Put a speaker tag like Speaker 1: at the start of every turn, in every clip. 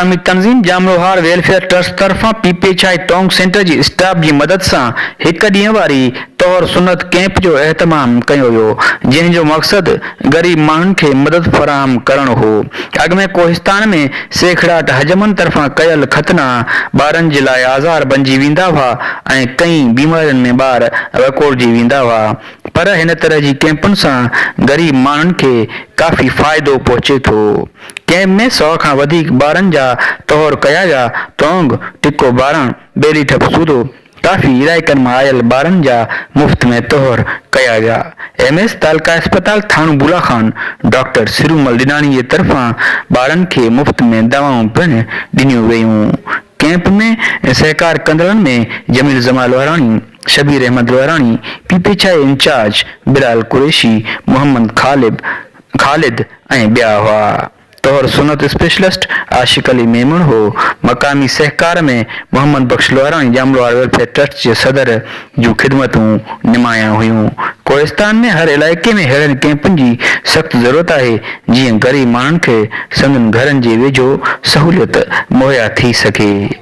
Speaker 1: عوامي تنظيم ڄامروهار welfare trust طرفان پي پي ڇائي ٽانڪ سينٽر جي اسٽاف جي مدد سان هڪ ڏينهن واري طهر سنت ڪئمپ جو اهتمام ڪيو ويو جنهن جو مقصد غريب ماڻهن کي مدد فراهم ڪرڻ هو اڳ ۾ ڪوهستان ۾ سيکڙاٽ حجمن طرفان ڪيل ختنا ٻارن جي لاء آزار بنجي ويندا هئا ۽ ڪئين بيمارين ۾ ٻار وڪوڙجي ويندا هئا پر هن طرح جي ڪئمپن سان غريب ماڻهن کي ڪافي فائدو پهچي ٿو. ڪئمپ ۾ سؤ کان وڌيڪ ٻارن جا طهور ڪيا ويا، تونگ، ٽڪو ٻارڻ، ٻيلي ٺپ سوڌو، ڪافي علائقن مان آيل ٻارن جا مفت ۾ طهور ڪيا ويا. ايم ايس تعلقه اسپتال ٿاڻو بولا خان ڊاڪٽر سرومل ڏناڻي جي طرفان ٻارن کي مفت ۾ دوائون پڻ ڏنيون ويون. ڪئمپ ۾ سهڪار ڪندڙن ۾ جميل زمان لوهراڻي، شبير احمد لوهراڻي، پي پي ڇائي انچارج بلال قريشي، محمد خالد، خالد ۽ ٻيا هئا. طهر سنت اسپيشلسٽ عاشق علي ميمڻ هو. مقامي سهڪار ۾ محمد بخش لوهاراڻي ڄام لوهار ويلفيئر ٽرسٽ جي صدر جون خدمتون نمايان هيون. ڪوهستان ۾ هر علائقي ۾ ههڙن ڪئمپن جي سخت ضرورت آهي، جيئن غريب ماڻهن کي سندن گهرن جي ويجهو سهوليت مهيا ٿي سگهي.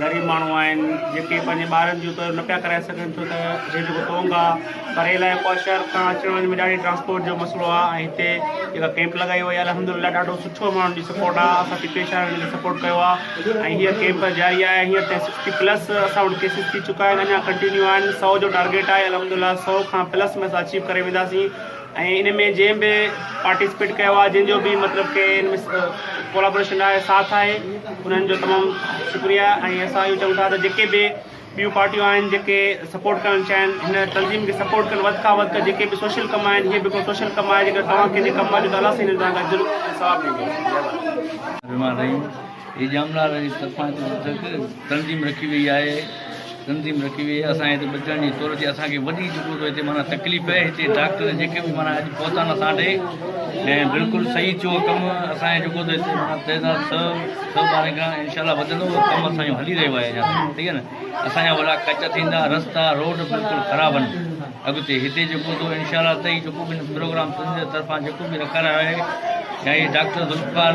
Speaker 2: غريب ماڻهو آهن جيڪي پنهنجي ٻارن جون ته نه پيا ڪرائي سگهن ڇو ته هي جيڪو تونگ آ پري علائقو آ شهر کان اچڻ وڃڻ ۾ ڏاڍي ٽرانسپورٽ جو مسئلو آ ۽ هتي جيڪا ڪيمپ لڳائي وئي آ الحمدلله ڏاڍو سٺو ماڻهن جي سپورٽ آ اسان پي پي شاهه جي سپورٽ ڪيو آ ۽ هيء ڪيمپ جاري آهي هينئر تائين سڪسٽي پلس اسان وٽ ڪيسز ٿي چڪا آهن اڃا ڪنٽينيو آهن سؤ جو ٽارگيٽ آهي الحمدلله سؤ کان پلس ۾ اسان اچيو ڪري وينداسين ۽ ان ۾ جنهن به پارٽيسپيٽ ڪيو آهي جن جو به مطلب ڪي ان ۾ ڪولابوريشن آهي ساٿ آهي انهن جو تمام شڪريا ۽ اسان اهو چون ٿا ته جيڪي به ٻيون پارٽيون آهن جيڪي سپورٽ ڪرڻ چاهين هن تنظيم کي سپورٽ ڪن وڌ کان وڌ جيڪي به سوشل ڪم آهن هي به هڪڙو سوشل ڪم آهي جيڪر توهان ڪنهن جي ڪم آهي ته الله سائين هن جو توهان کي اجر ۽ ثواب ڏيندو هي
Speaker 3: ڄامنار جي طرفان جيڪو تنظيم رکي وئي آهي تنظيم رکي وئي آهي اسان هتي ٻچن جي طور تي اسان کي وڏي جيڪو هتي معنيٰ تڪليف آهي هتي ڊاڪٽر جيڪي به معنيٰ اڄ پهتا نه اسان ڏي ۽ بلڪل صحيح چيو ڪم اسان جي جيڪو هتي معنيٰ تعداد سو سو ٻارهن کان انشاء الله وڌندو ڪم اسان جو هلي رهيو آهي اڃا ٺيڪ آهي نه اسان جا وڏا ڪچا ٿيندا رستا روڊ بلڪل خراب آهن اڳتي هتي جيڪو هتو انشاء الله تعالي جيڪو به پروگرام تنظيم طرفان جيڪو به رکارايو آهي يا هي ڊاڪٽر ذوالفقار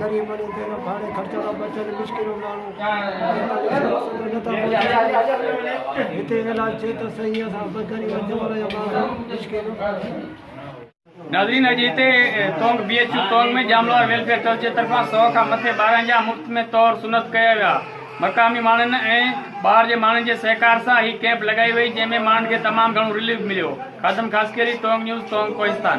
Speaker 4: غريب
Speaker 5: ۽ بي نفع ۽ خرچ کان بچيل مسڪين ماڻهو پينتاليس ورهين سندن نه ٿا پهچن. هتي اعلان ٿئي ته سهي اسان به غريب ۽ چور جا ماڻهو مسڪين. ناظرين اڄ هتي Tong B H U Tong ۾ ڄاملوار ويلفيئر ٽرسٽ جي طرفان سؤ کان مٿي ٻارن جا مفت ۾ طور سنت ڪيا ويا مقامي ماڻهن ۽ ٻاهر جي ماڻهن جي سهڪار سان هي ڪيمپ لڳائي وئي جنهن ۾ ماڻهن کي تمام گهڻو رليف مليو خادم خاصخيلي تونگ نيوز تونگ ڪوهستان.